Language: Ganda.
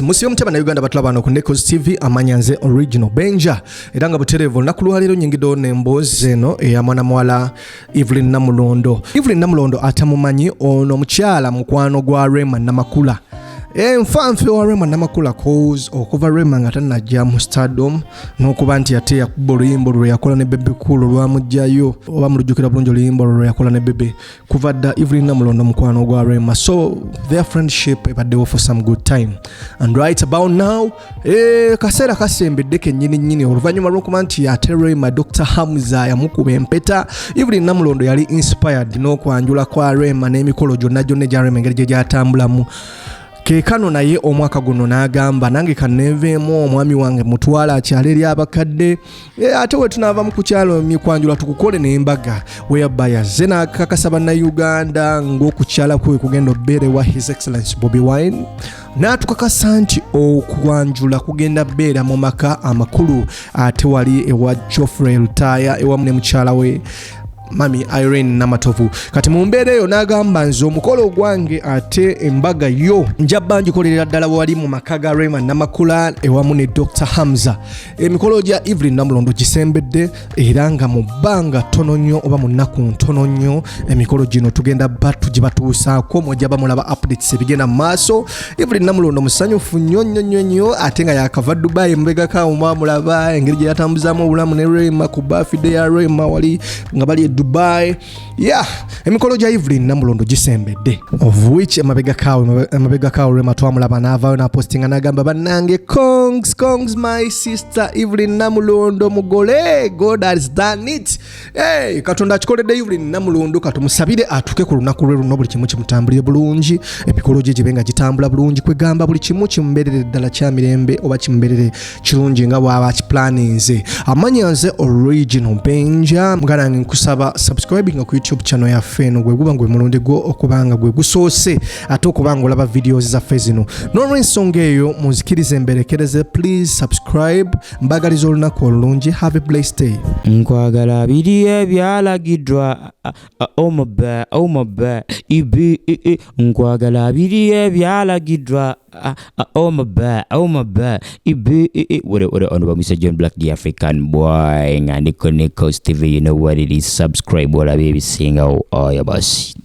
musibe mutya bannayuganda batulaba wano ku necos tv amanya nze original benja era nga butereevu olunaku lwaleero nyingidewo nemboozi eno eya mwana muwala evelyn namulondo evelyn namulondo atamumanyi ono omukyala mukwano gwa rema namakula eh, nfa nfe wa rema namakula cause okuva rema nga tanajja mu stardom n'okuba nti ate yakuba oluyimba olwo lweyakola ne bebe cool olwamugjayo oba mulujjukira bulungi oluyimba olwo lweyakola ne bebe kuva dda evelyn namulondo mukwano gwa rema so their friendship ebaddewo for some good time and right about now eh, kaseera kasembedde kenyini nyini oluvannyuma lwokuba nti ate rema dr hamza yamukuba empeta evelyn namulondo yali inspired n'okwanjula kwa rema n'emikolo gyonna gyonna egya rema engeri gye gyatambulamu kekano naye omwaka guno n'agamba nange kanenveemu omwami wange mutwala akyala eri abakadde Eh, ate wetunaavamu ku kyalo mikwanjula tukukole nembaga weyabaya ze nakakasa bannayuganda ng'okukyala kwe kugenda obeera ewa his excellence bobi wine n'atukakasa nti okwanjula kugenda beera mu maka amakulu ate wali ewa joffrey lutaya ewamu ne mukyala we mami irene namatovu kati mu mbeera eyo n'agamba nze omukolo ogwange ate embaga yo njabba njikolerera ddala wali mu maka ga rayman namakula ewamu ne dr hamza emikolo gya evelyn namulondo gisembedde era nga mu bbanga ttono nnyo oba mu nnaku ntono nnyo emikolo gino tugenda batu gye batuusaako mwejja bamulaba updates ebigenda mu maaso evelyn namulondo musanyufu nnyo nnyo nnyo nnyo ate nga yakava dubai mubegakauma mulaba engeri gye yatambuzaamu obulamu ne rema ku bafide ya rema wali nga bali e dubai ya emikolo gya evelyn namulondo gisembedde of which emabega kawe emabega kawe lwema twamulaba n'avaayo n'apostinga n'agamba bannange congs congs my sister evelyn namulondo mugole god has done it hey, katonda akikoledde evelyn namulondo katumusabire atuuke ku lunaku lwe luno buli kimu kimutambulire bulungi emikolo gye gibe nga gitambula bulungi kwegamba buli kimu kimuberere ddala kya mirembe oba kimuberere kirungi nga bwaba kiplaninze amanya nze original benja muganange nkusaba subscribing ku youtube channel yaffe eno gweguba ngwe mulundi gwo okubanga gwe gusoose ate okubanga olaba videos zaffe zino nolwensonga eyo munzikirize mberekereze please subscribe mbagaliza olunaku olulungi have a blessed day nkwagala biri ebyalagidwa omube omube ibi nkwagala biri ebyalagidwa Ah, ah, oh my bad, oh my bad. Ibu, i, i, what, what, on about Mr. John Black, the African boy, and Nico Nico TV, you know what it is. Subscribe, what I baby sing, oh, oh, yeah, boss.